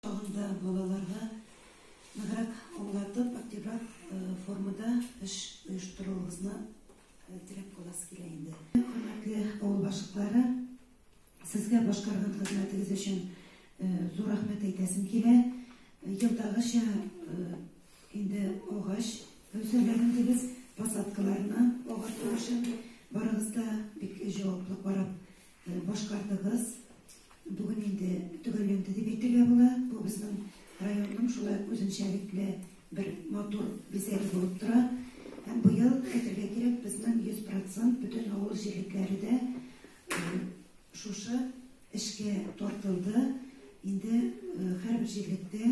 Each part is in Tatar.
Тагын да балаларга ныграк аңлатып, активрак формада эш оештыруыгызны теләп каласы килә инде. Хөрмәтле авыл башлыклары, сезгә башкарган хезмәтегез өчен зур рәхмәт әйтәсем килә. Елдагыча инде агач өлсәләрен дибез, посадкаларны агарту өчен барыгыз да бик җаваплы карап Башкардыгыз. Бүген инде төгәлләнде дип әйтергә була. Бу безнең районның шулай ук үзенчәлекле бер матур бизәге булып тора. Һәм быел, әйтергә кирәк, безнең 100 процент бөтен авыл җирлекләре дә шушы эшкә тартылды. Инде һәрбер җирлектә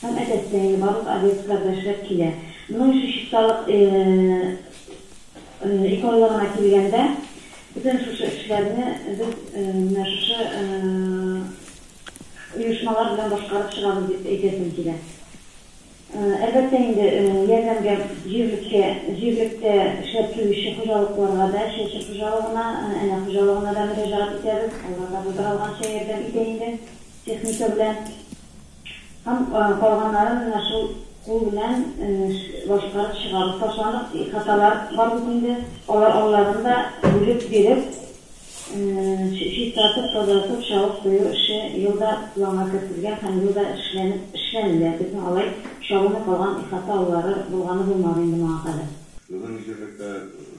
Һәм, әлбәттә, барлык объект кадәр шәп килә. Моның өчен чисталык иконлыгына килгәндә, бөтен шушы эшләрне без менә шушы оешмалар белән башкарып чыгабыз дип әйтәсем килә. Әлбәттә инде, ярдәмгә җирлеккә, җирлектә эшләп килүче хуҗалыкларга да, Чәче хуҗалыгына, Әнә хуҗалыгына да мөрәҗәгать итәбез. Алар да булдыра алганча ярдәм итә инде техника белән. Һәм калганнарын менә шул кул белән башкарып чыгабыз. Ташландык хаталар бар бит инде. Алар алларын да бүлеп биреп, чистартып, тазартып, чабып кую эше ел да планга кертелгән һәм ел да эшләнеп, эшләнелә. Безнең алай чабылмый калган ихата аллары булганы булмады инде моңа кадәр. Безнең җирлектә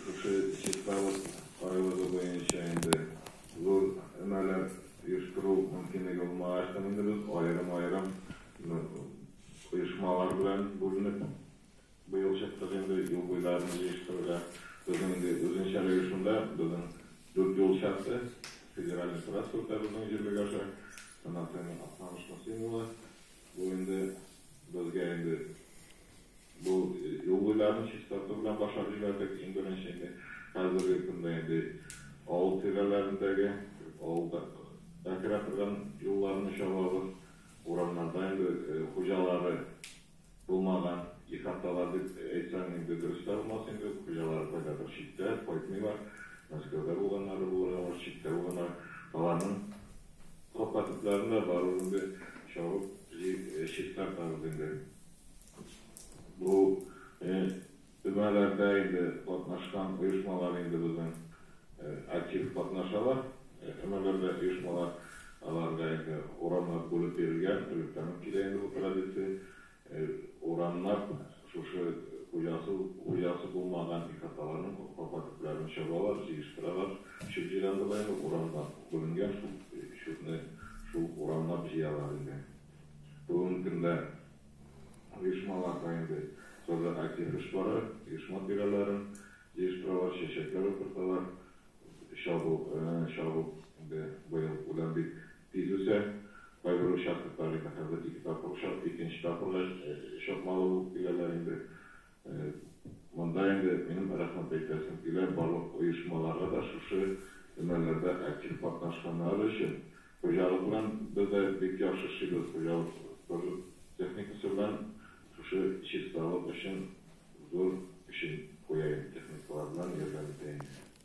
шушы чисталык кайгылыгы буенча инде Зур өмәләр оештыру мөмкинлеге булмаган яктан инде без аерым-аерым оешмалар белән бүленеп быел чыктык инде юл буйларын җыештырырга. Безнең инде үзенчә рәвешендә безнең дүрт юл чарты федераль трассада безнең җирлек аша Анатолий Актаныш Мосин улы бу инде безгә инде Бу юл уйларын чистарту белән баша дибәрдек, иң беренче инде. Хәзерге көндә инде авыл тирәләрендәге, авылда бәкерә торган юлларны чабабыз. Урамнарда инде хуҗалары булмаган ихаталар дип әйтсәң инде дөрес тә булмас инде. Хуҗалары кайдадыр читтә, кайтмыйлар. Мәскәүдә булганнары булырга мөмкин, читтә булганнары. Аларның капка төпләрен дә барыбер инде чабып, җыеп чистартабыз инде. Бу өмәләрдә инде катнашкан оешмалар инде безнең актив катнашалар. Өмәләрдә оешмалар, аларга инде урамнар бүлеп бирелгән, электрән килә инде бу традиция. Урамнар шушы хуҗасы, хуҗасы булмаган ихаталарның капка төпләрен чабалар, җыештыралар. Чүп җыйганда да инде урамнар бүленгән, шул чүпне шул урамнар җыялар инде. Бүгенге көндә оешмаларда инде сазга актив эш бара, оешма тирәләрен җыештыралар, чәчәкләр утырталар. Чабу, чабу инде быел үлән бик тиз үсә. Кайбер участоклар инде хәзер ике тапкыр чап, икенче тапкырга чапмалы булып киләләр инде. Монда инде минем рәхмәт әйтәсем килә барлык оешмаларга да шушы өмәләрдә актив катнашканнары өчен. Хуҗалыкның бер дә бик яхшы шигырь хуҗалык сажу техникасы белән шушы чисталык өчен зур эшен куя иде, техникалар белән ярдәм итә иде.